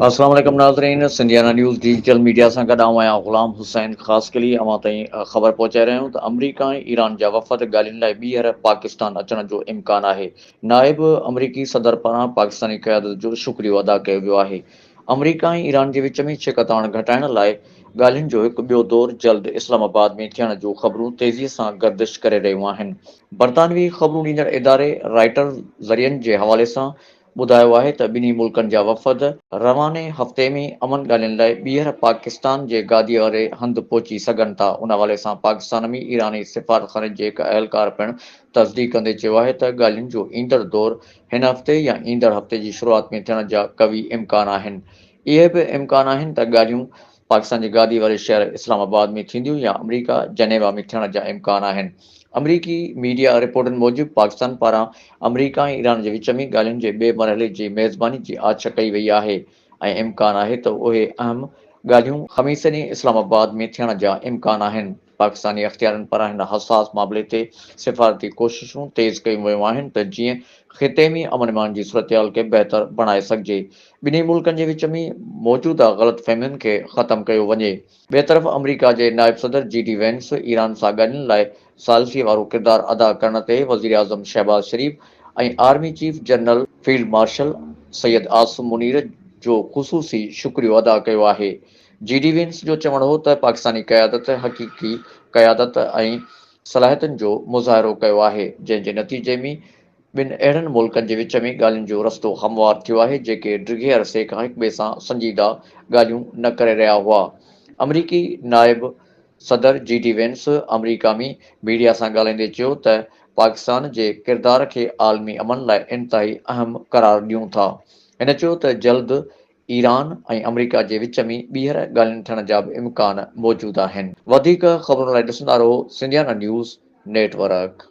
السلام عليڪم ناظرين سنڌيانا نيوز ڊيجيٽل ميڊيا سان گڏ آئون آهيان غلام حسين خاصخيلي اوهان تائين خبر پهچائي رهيا آهيون ته آمريڪا ۽ ايران جا وفد ڳالهين لاء ٻيهر پاڪستان اچڻ جو امڪان آهي نائب آمريڪي صدر پاران پاڪستاني قيادت جو شڪريو ادا ڪيو ويو آهي آمريڪا ۽ ايران جي وچ ۾ ڇڪتاڻ گهٽائڻ لاء ڳالهين جو هڪ ٻيو دور جلد اسلام آباد ۾ ٿيڻ جون خبرون تيزي سان گردش ڪري رهيون آهن برطانوي خبرون ڏيندڙ اداري رائٽرز ذريعن جي حوالي سان ٻڌايو آهي ته ٻنهي ملڪن جا وفد، رواني هفتي ۾ امن ڳالهين لاء ٻيهر پاڪستان جي گاديء واري هنڌ پهچي سگهن ٿا، ان حوالي سان پاڪستان ۾ ايراني سفارتخاني جي هڪ اهلڪار پڻ تصديق ڪندي چيو آهي ته ڳالهين جو ايندڙ دور هن هفتي يا ايندڙ هفتي جي شروعات ۾ ٿيڻ جا قوي امڪان آهن، اهي به امڪان آهن ته ڳالهيون پاڪستان جي گادي واري شهر اسلام آباد ۾ ٿينديون يا آمريڪا جنيوا ۾ ٿيڻ جا امڪان آهن. آمريڪي ميڊيا رپورٽن موجب پاڪستان پاران آمريڪا ۽ ايران جي وچ ۾ ڳالهين جي ٻئي مرحلي جي ميزباني جي آڇ ڪئي وئي آهي ۽ امڪان آهي ته اهي اهم ڳالهيون خميس ڏينهن اسلام آباد ۾ ٿيڻ جا امڪان آهن. پاڪستاني اختيارين پاران هن حساس معاملي تي سفارتي ڪوششون تيز ڪيون ويون آهن ته جيئن خطي ۾ امن امان جي صورتحال کي بهتر بڻائي سگهجي، ٻنهي ملڪن جي وچ ۾ موجوده غلط فهمين کي ختم ڪيو وڃي. ٻئي طرف آمريڪا جي نائب صدر جي ڊي وينس ايران سان ڳالهين لاء ثالثي وارو ڪردار ادا ڪرڻ تي وزيراعظم Shehbaz Sharif ۽ army chief general field marshal Syed Asim Munir جو خصوصي شڪريو ادا ڪيو آهي. جي ڊي وينس جو چوڻ هو ته پاڪستاني قيادت حقيقي قيادت ۽ صلاحيتن جو مظاهرو ڪيو آهي، جنهن جي نتيجي ۾ ٻن اهڙن ملڪن جي وچ ۾ ڳالهين جو رستو هموار ٿيو آهي، جيڪي ڊگهي عرصي کان هڪٻئي سان سنجيده ڳالهيون نه ڪري رهيا هئا. آمريڪي نائب صدر جي ڊي وينس آمريڪا ۾ ميڊيا سان ڳالهائيندي چيو ته پاڪستان جي ڪردار کي عالمي امن لاء انتهائي اهم قرار ڏيون ٿا. هن چيو ته جلد ايران ۽ آمريڪا جي وچ ۾ ٻيهر ڳالهين ٿيڻ جا به امڪان موجود آهن. وڌيڪ خبرن لاء ڏسندا رهو سنڌيانا نيوز نيٽ ورڪ.